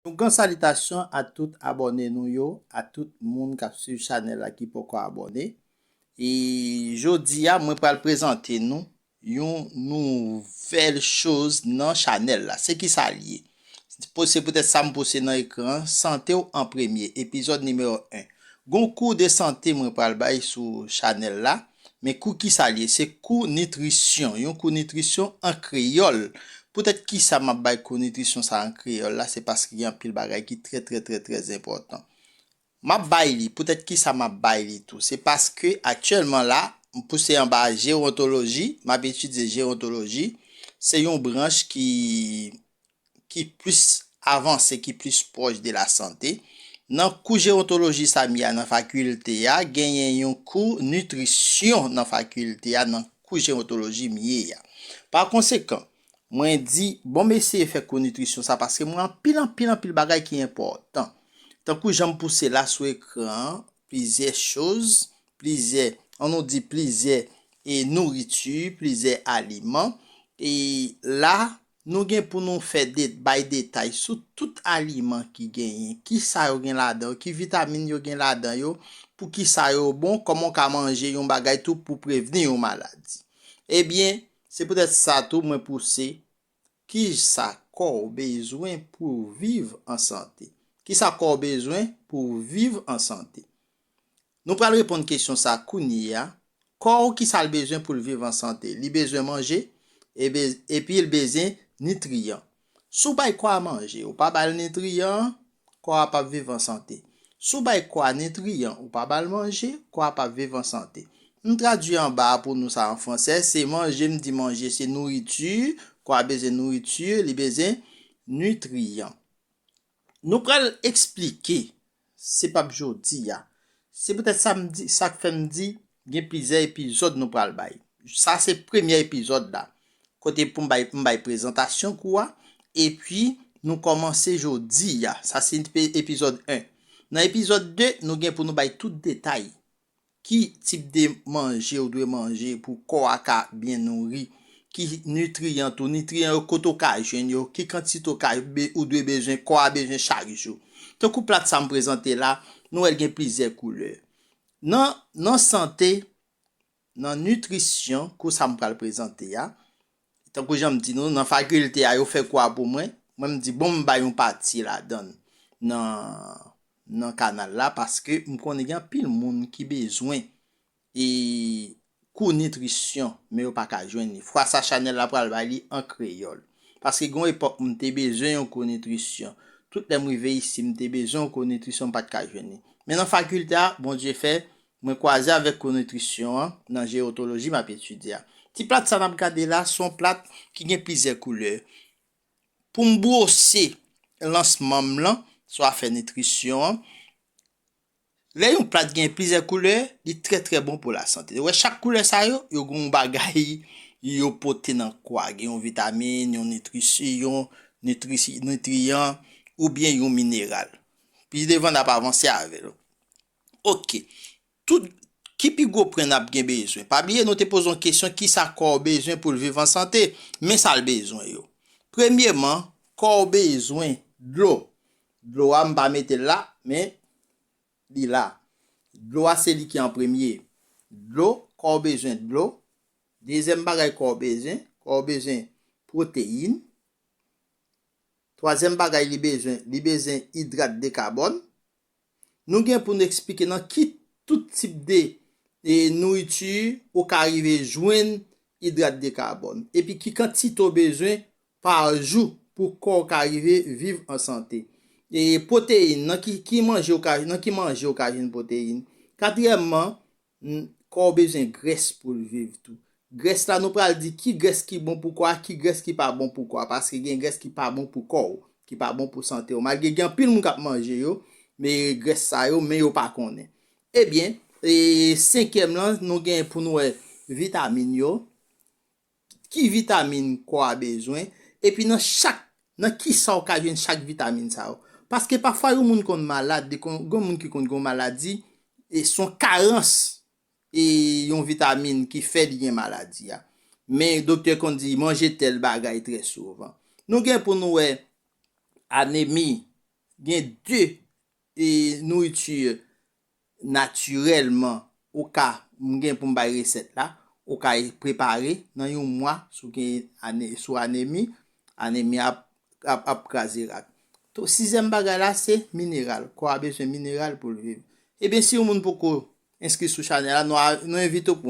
Yon gran salitasyon a tout abòne nou yo, a tout moun k ap swiv chanèl la ki poko abòne. E jodi a mwen pral prezante nou yon nouvèl choz nan chanèl la. Se kisa l ye? Se poutèt sa m poste nan ekran an, Sante w an premye, epizòd nimewo 1. Gon kou de sante mwen pral bay sou chanèl la. Men kou kisa l ye? Se kou nitrisyon, yon kou nitrisyon an kreyòl. Poutèt kisa m ap bay kou nitrisyon sa a an kreyòl la? Se paske gen anpil bagay ki trè trè trè trè enpòtan. M ap bay li, poutèt kisa m ap bay li tou? Se paske aktyèlman la, m pouse anba jewontoloji, m ap etidye jewontoloji. Se yon branch ki ki plis avanse, ki plis pwòch de la sante. Nan kou jewontoloji sa m ye a nan fakilte a, genyen yon kou nitrisyon nan fakilte a nan kou jewontoloji m ye a. Pa konsekan, mwen di, bon m eseye fè kou nitrisyon sa paske m wè anpil anpil anpil bagay ki enpòtan. Tankou jan m pouse la sou ekran an, plizyè choz, plizyè, an nou di plizyè e nouriti, plizyè aliman, e la Nou gen pou nou fè de bay detay sou tout aliman ki genyen, kisa yo gen ladan yo, ki vitamin yo gen ladan yo, pou kisa yo bon, kòman w ka manje yon bagay tou pou prevni yon maladi. Ebyen, se poutèt sa tou mwen pouse Kisa kò w bezwen pou w viv an sante? Kisa kò w bezwen pou w viv an sante? Nou pral reponn kesyon sa kounyeya, Kò ou kisa l bezwen pou l viv an sante? Li bezwen manje epi l bezyen nitriyan. Si w bay kò a manje, ou pa ba l nitriyan, kò a pap viv an sante. Si w bay kò a nitriyan, ou pa ba l manje, kò a pap viv an sante. M tradui anba a pou nou sa an fransè, se manje m di manje se nourriture, kò a bezyen nourriture, li bezyen nitriyan. Nou pral esplike, se pap jodi a. Se poutèt sa m di, sa k fè m di gen plizyè epizòd nou pral bay. Sa se premyè epizòd la, kote pou m bay, m bay prezantasyon kou a, epi nou kòmanse jodi a. Sa se epizòd 1. Nan epizòd 2, nou gen pou nou bay tout detay Ki tip de manje ou dwe manje pou kò a ka byen nouri? Ki nitriyan tou? Nitriyan yo kote ou ka jwenn yo? Ki kantite ou ka ou dwe bezwen kò a bezwen chak jou? Tankou plat sa m prezante la, nou wè l gen plizyè koulè. Nan nan sante, nan nitrisyon kou sa m pral prezante a, Tankou jan m di nou, nan fakilte a yo fè kou a pou mwen, mwen m di bon m bay yon pati ladan nan kanal la paske m konnen gen anpil moun ki bezwen e kou nitrisyon men yo pa ka jwenn li. Fwa sa chanèl la pral bay li an kreyòl. Paske gen yon epòk m te bezwen yon kou nitrisyon. Tout lè m rive isi m te bezwen yon kou nitrisyon m pa t ka jwenn li. Men nan fakilte a, Bondye fè, Mwen kwaze avèk kou nitrisyon an nan Gerontologie m ap etidye a. Ti plat sa n ap gade la se yon plat ki gen plizyè koulè. Pou m bwose lansman m lan sou afè nitrisyon an, lè yon plat gen plizyè koulè, li trè trè bon pou lasante. Ou wè chak koulè sa yo, yo gen yon bagay yo pote nan kò a. Gen yon vitamin, yon nitriyan oubyen yon mineral. Pi devan n ap avanse avè l. Ok. Tout Ki pi gwo pwen nap gen bezwen? Pa bliye nou te poze yon kesyon kisa kò w bezwen pou l viv an sante? Men sa l bezwen yo. Premyeman, kò w bezwen dlo. Dlo a m pa mete l la, men li la. Dlo a se li ki an premye. Dlo, kò w bezwen dlo. Dezyèm bagay kò w bezwen, kò w bezwen pwoteyin. Twazyèm bagay li bezwen, li bezwen idrat de kabòn. Nou gen pou n eksplike nan ki tout tip de nouriti ou ka rive jwenn idrat de kabòn, epi ki kantite ou bezwen pa jou pou kò ou ka rive viv an sante. Pwoteyin, nan ki manje ou ka jwenn pwoteyin. Katriyèmman, N, Kò w bezwen grès pou l viv tou. Grès la nou pral di ki grès ki bon pou kò a, ki grès ki pa bon pou kò a. Paske gen grès ki pa bon pou kò w, ki pa bon pou sante w. Malgre gen anpil moun k ap manje yo, me grès sa yo, men yo pa konnen. Ebyen, e senkyèm lan, nou gen pou nou wè vitamin yo. ki vitamin kò a bezwen, epi nan chak nan kisa ou ka jwenn chak vitamin sa yo. Paske pafwa yon moun konn malad, li konn gen yon moun ki konn gen yon maladi, e son karans e yon vitamin ki fè li gen maladi a. Men doktè konn di manje tèl bagay trè souvan. Nou gen pou nou wè anemi, gen 2 e nouriti natirèlman ou ka m gen pou m bay resèt la ou ka prepare nan yon mwa sou gen ane sou anemi anemi ap ap ap kraze rak to sizyèm bagay la se mineral kò a bezwen mineral pou l viv ebyen si yon moun poko enskri sou chanèl la nou a nou envite w pou.